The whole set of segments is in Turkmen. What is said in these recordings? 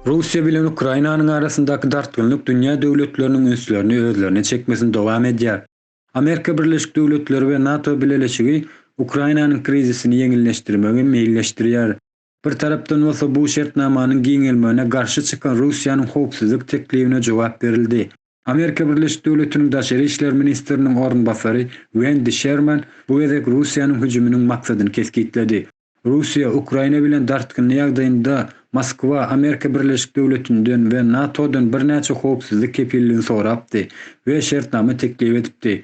Russiýa bilen Ukrainanyň arasyndaky dartgynlyk dünýä döwletleriniň ünslerini özlerine çekmesini dowam edýär. Amerika Birleşik Döwletleri we NATO bileleşigi Ukrainanyň krizisini ýeňilleşdirmegi meýilleşdirýär. Bir tarapdan bolsa bu şertnamanyň giňelmegine garşy çykan Russiýanyň howpsuzlyk teklibine jogap berildi. Amerika Birleşik Döwletiniň daşary işler ministriniň orunbasary Wendi Şerman bu gezek Russiýanyň hüjüminiň maksadyny kesgitledi. Russiýa Ukraina bilen dartgynly ýagdaýynda Moskwa Amerika Birleşik Döwletinden we NATO-dan birnäçe howpsuzlyk kepilligini sorapdy we şertnama teklip edipdi.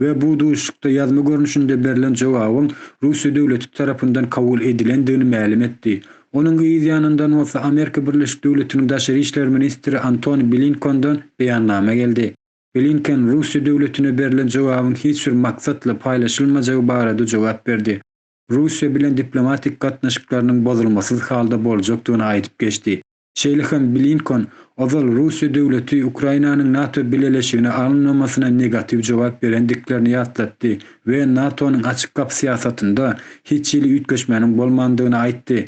we bu duşuşykda ýazma görnüşinde berlen jogabyň Russiýa döwleti tarapyndan kabul edilendigini mälim etdi. Onuň yz ýanyndan bolsa Amerika Birleşik Döwletiniň daşary işler ministri Antony Blinkondan beýannama geldi. Blinken Russiýa döwletine berlen jogabyň hiç bir maksatla paýlaşylmajagy barada jogap berdi. Russiýa bilen diplomatik gatnaşyklarynyň bozulmasyz halda boljakdygyny aýdyp geçdi. Şeýle hem Blinkon ozal Russiýa döwleti Ukrainanyň NATO bileleşigine alynmamasyna negatiw jogap berendiklerini ýatlatdy we NATO-nyň açyk gapy syýasatynda hiç hili üýtgeşmäniň bolmandygyny aýtdy.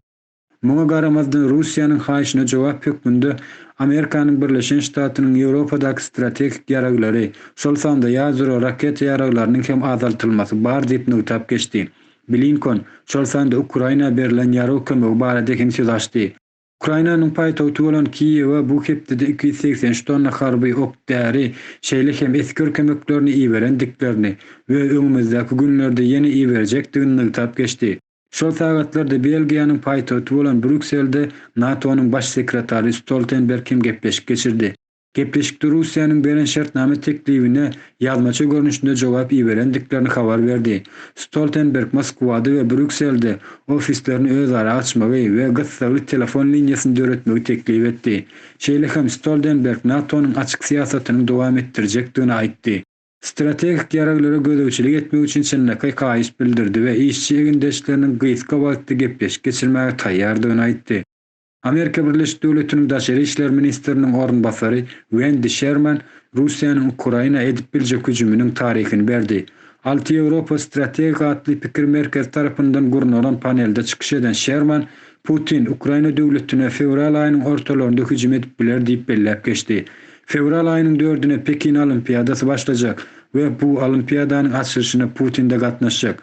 Muňa garamazdan Russiýanyň haýyşyna jogap hökmünde Amerikanyň Birleşen Ştatynyň Ýewropadaky strategik ýaraglary, şol sanda ýadro raketa ýaraglarynyň hem azaltylmasy bar diýip nygtap geçdi. Blinkon şol sanda Ukraina berilen ýarag kömegi barada hem söz açdy. Ukrainanyň paýtagty bolan Kiýewe bu hepdede iki ýüz segsen üç tonna harby ok-däri, şeýle hem esger kömeklerini iberendiklerini we öňümizdäki günlerde ýene iberjekdigini nygtap geçdi. Şol sagatlarda Belgiýanyň paýtagty bolan Brýukselde NATO-nyň Baş sekretary Stoltenberg hem gepleşik geçirdi. Gepleşikde Russiýanyň beren şertnama teklibine ýazmaça görnüşinde jogap iberendiklerini habar berdi. Stoltenberg Moskwada we Brýukselde ofislerini özara açmagy we gyssagly telefon liniýasyny döretmegi teklip etdi. Şeýle hem Stoldenberg NATO-nyň açyk syýasatynyň dowam etdirjekdigini aýtdy. Strategik ýaraglara gözegçilik etmek üçin çynlakaý haýyş bildirdi we işçi egindeşleriniň gysga wagtda gepleşik geçirmäge taýýardygyny aýtdy. Amerika Birleşik Döwletiniň daşary işler ministriniň orunbasary Wendi Şerman Russiýanyň Ukraina edip biljek hüjüminiň taryhyny berdi. Alty Ýewropa strategik atly pikir merkezi tarapyndan gurnalan panelde çykyş eden Şerman, Putin Ukraina döwletine fewral aýynyň ortalarynda hüjüm edip biler diýip belläp geçdi. Fewral aýynyň dördüne Pekin Olimpiadasy başlajak we bu Olimpiadanyň açylyşyna Putin-de gatnaşjak.